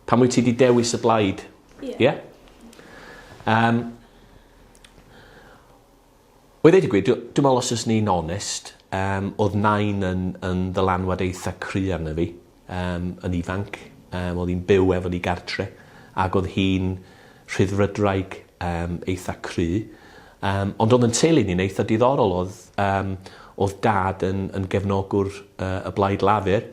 Pam wyt ti 'di dewis y blaid? Ie. Ie? Yym. Wel ddeud y gwir dw- dwi me'wl os fyswn i'n onest yym odd Nain yn yn ddylanwad eitha cry arno fi yym yn ifanc yym odd 'i'n byw efo ni gartre ag odd hi'n Rhyddfrydraig yym eitha cry yym ond odd 'yn teulu ni'n eitha diddorol odd yym odd Dad yn yn gefnogwr yy y Blaid Lafur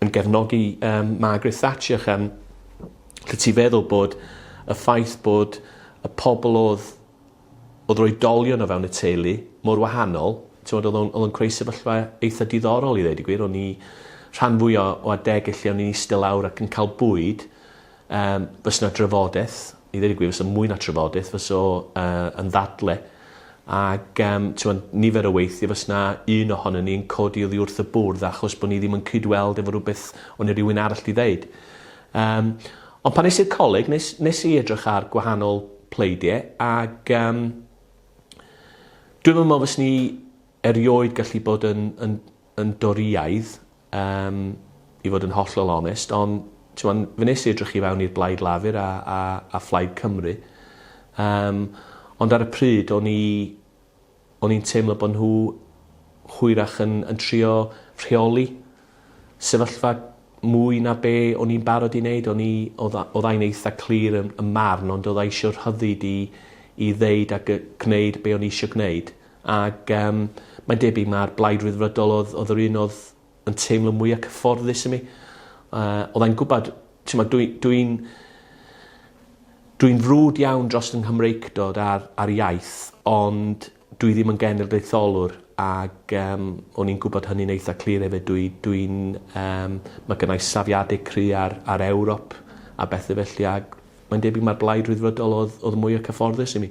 yn gefnogi um, Margaret Thatcher cham lle ti feddwl bod y ffaith bod y pobl oedd oedd roi dolion o fewn y teulu mor wahanol oedd o'n creu sefyllfa eitha diddorol i ddweud y gwir o'n i rhan fwy o, o adeg lle o'n i'n eistedd lawr ac yn cael bwyd Yym, fysa 'na drafodaeth. I ddweud y gwir, fysa mwy na trafodaeth. Fysa o uh, yn ddadle. Ac um, ti'n nifer o weithio fys na un ohono ni'n codi oddi wrth y bwrdd achos bod ni ddim yn cydweld efo rhywbeth o'n i rhywun arall di ddeud. Um, ond pan nes i'r coleg, nes, nes i edrych ar gwahanol pleidiau ac um, dwi'n meddwl fys ni erioed gallu bod yn, yn, yn doriaidd Yym, i fod yn hollol onest, ond, t'mon', fe nes i edrych i fewn i'r Blaid Lafur a a a Phlaid Cymru, yym, ond ar y pryd o'n i o'n i'n teimlo bo' nhw hwyrach yn yn trio rheoli sefyllfa mwy na be' o'n i'n barod i neud. O'n i... Odd a- odd ai'n eitha clir ym ym marn ond odd a isio rhyddid i i ddeud ag yy gneud be' o'n i isio gneud. Ac yym mae'n debyg mai'r Blaid Ryddfrydol oedd oedd yr un oedd yn teimlo mwya' cyfforddus i mi. Yy odd e'n gwbod t'mod dwi dwi'n dwi'n frwd iawn dros fy Nghymreictod a'r a'r iaith ond dwi ddim yn genedlaetholwr ag yym o'n i'n gwbod hynny'n eitha clir efyd dwi dwi'n yym ma' gynnai safiade cry' ar ar Ewrop a bethe felly ag mae'n debyg mai'r Blaid Ryddfrydol odd odd mwya' cyfforddus i mi.